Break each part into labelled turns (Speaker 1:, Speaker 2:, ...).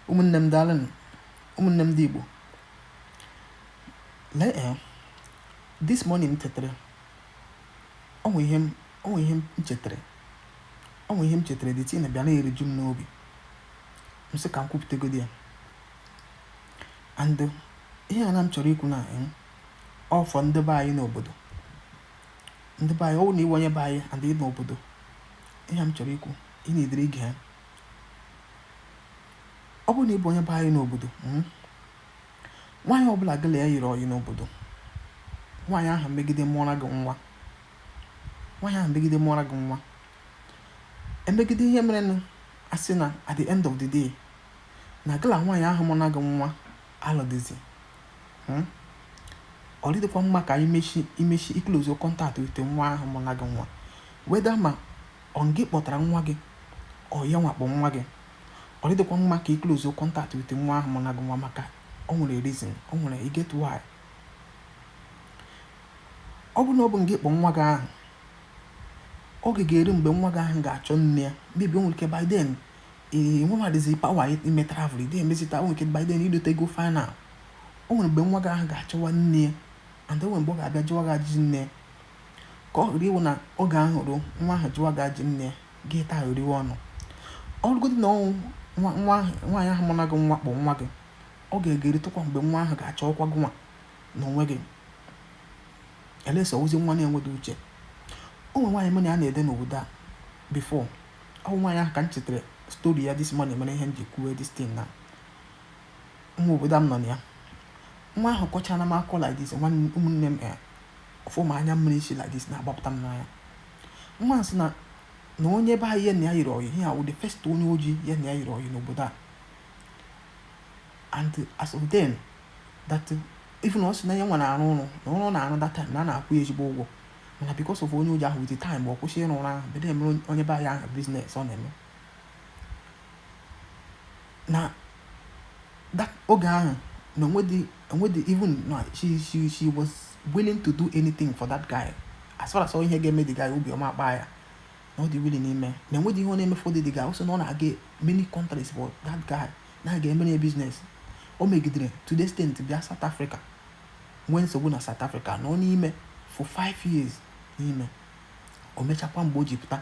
Speaker 1: ụmụnne m daalụnụ ụmụnne m ndị Igbo lee eh, this morning m tetara o nwe ihe m chetara o nwe ihe m chetara the thing abịa na-eriju m n'obi m sị ka m kwupụtagodi ya and ihe a na m chọrọ ikwu na eh, ọ wụ for ndị be anyị n'obodo ndị be anyị ọ wụ na ị wụ onye be anyị and ị nọ obodo ihe m chọrọ ikwu ị nọdịrị gee ya ọ bụrụ na ị bụ onye be anyị n'obodo hmm, nwaanyị ọbụla gị na ya yiri ọyị n'obodo nwaanyị ahụ megide mụọra gị nwa nwaanyị ahụ megide mụọra gị nwa e megide ihe merenụ a sị na at the end of the day na gị la nwaanyị ahụ mụna gị nwa alụdịzi hmm, ọ dịdịkwa mma ka i mechie i mechie i close contact with nwa ahụ mụna gị nwa whether ma Ọ ngị kpọtara nwa gị? Ọ yanwa kpọ nwa gị? Ọ dịdịkwa mma ka i close contact with nwa ahụ mụna gị nwa maka o nwere reason, o nwere e get why. Ọ bụrụ na ọ bụ ngị kpọ nwa gị ahụ, oge ga-eru mgbe nwa gị ahụ ga-achọ nne ya, maybe o nwere ike by then i nwedịzi power ime travel ide emezita o nwere ike by then i lotego final. O nwere mgbe nwa gị ahụ ga-achọwa nne ya and o nwere mgbe ọ ga-abịa jụwa gị ajụjụ nne ya. ka ọ ghara ịwụ na oge ahụ ruo nwa ahụ jụwa gị ajụ nne ya gị tariwe ọnụ ọ bụrụgodị na ọ wụ nwa nwa ahụ nwaanyị ahụ mụna gị nwa kpọ nwa gị oge ga-erutekwa mgbe nwa ahụ ga-achọkwa gịnwa na onwe gị unless ọ wụzi nwa na-enweghị uche o nwe nwaanyị mụ na ya na-ede n'obodo a before ọ bụ nwaanyị ahụ ka m chetara story ya this morning mere ihe m ji kwuwe this thing na nwa obodo a m nọ na ya nwa ahụ kọchara m akọ like this nwanne ụmụnne m eh, Ọfụma anya mmiri si like this na-agbapụta m n'anya. Nwa a sị na na onye be anyị ya na ya yiri ọyị ihe a wụ the first onye ojii ya na ya yiri ọyị n'obodo a and as of then that even ọ sị na ya nwa na-arụ ọrụ na ọrụ ọ na-arụ that time na a na-akwụ ya ezigbo ụgwọ mana because of onye ojii ahụ with the time ọ kwụsị ịrụ ọrụ ahụ bido mere onye be anyị ahụ business ọ na-eme na that oge ahụ na o nwedị o nwedị even na she she she was willing to do anything for that guy as far as ihe ga-eme the guy obi ọma akpa ya na ọ dị willing ime na enwedị ihe ọ na-eme for the guy ọ sị na ọ na-aga many countries for that guy na-aga emere ya business o megidere to the extent bịa South Africa nwee nsogbu na South Africa nọ n'ime for five years n'ime o mechakwa mgbe o ji pụta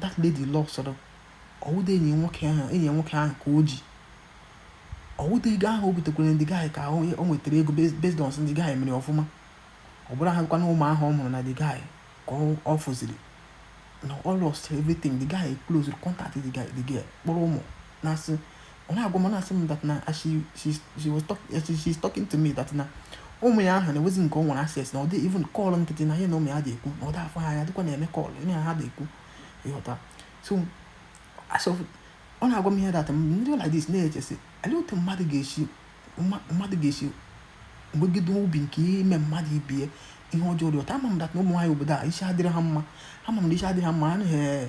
Speaker 1: that lady lose-uru ọ wụdị enyi nwoke ahụ enyi nwoke ahụ ka o ji ọ wụdị ego ahụ o butekwere the guy ka o nwetara ego based on the guy mere ọfụma ọ bụrọkwanụ ụmụ ahụ ọ mụrụ na the guy ka ọ fụziri no ọ lost everything the guy close contact the guy the girl kpọrọ ụmụ na-asị ọ na-agwa m na-asị m that na she she she was talk she she's talking to me that na ụmụ ya ahụ na enwezi nke o nwere access na ọ dị even call nkịtị na ihe na ụmụ ya dị ekwu na ọ dị afụ ha anya dịkwa na-eme call ihe ha dị ekwu ị ghọta so as ọ na-agwa m ihe that m dị like this na-eche sị olee otu mmadụ ga-esi mma- mmadụ ga-esi nwegide obi nke ime mmadụ ibe ya ihe ọjọọ dị otu a ama m that na ụmụ nwaanyị obodo a isi adịrị ha mma ama m na isi adịrị ha mma anaghị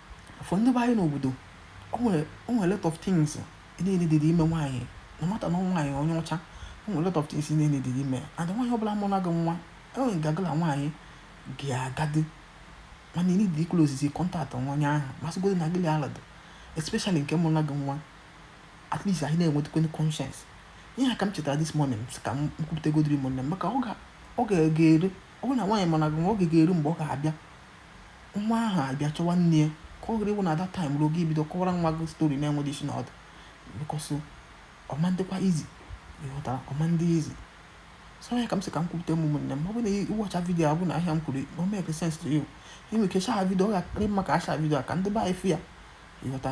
Speaker 1: for ndị be anyị n'obodo o nwere o nwere lot of things ị na-adịghị eme nwaanyị no matter na nwaanyị onye ọcha o nwere lot of things ị na-adịghị eme and nwaanyị ọbụla mụọra gị nwa enwere gagala nwaanyị ga-agadi mana need to close the contact nwa onye ahụ ma sịgodi na gịlị alad especially nke mụọra gị nwa at least anyị na-enwetakwa conscience ihe ka m chetara this morning ka m kwupụtagodiri ụmụnne m maka ọ ga-eru ọ bụrụ na nwaanyị mụọra gị nwa oge ga-eru mgbe ọ ga-abịa nwa ahụ abịa chọwa nne ya ka ọ ghara ịwụ na that time ruo gị bido kọwara nwa gị story na-enweghị isi na ọdụ because ọ ma ndịkwa easy ị ghọtara ọ ma ndị easy so ya ka m sị ka m kwupụta m ụmụnne m ọ bụ na ị watch video a ọ bụ na ihe a m kwuru o make sense to you i nwere ike share video ọ ga-akarị mma ka a share video ka ndị be anyị fụ ya ị ghọta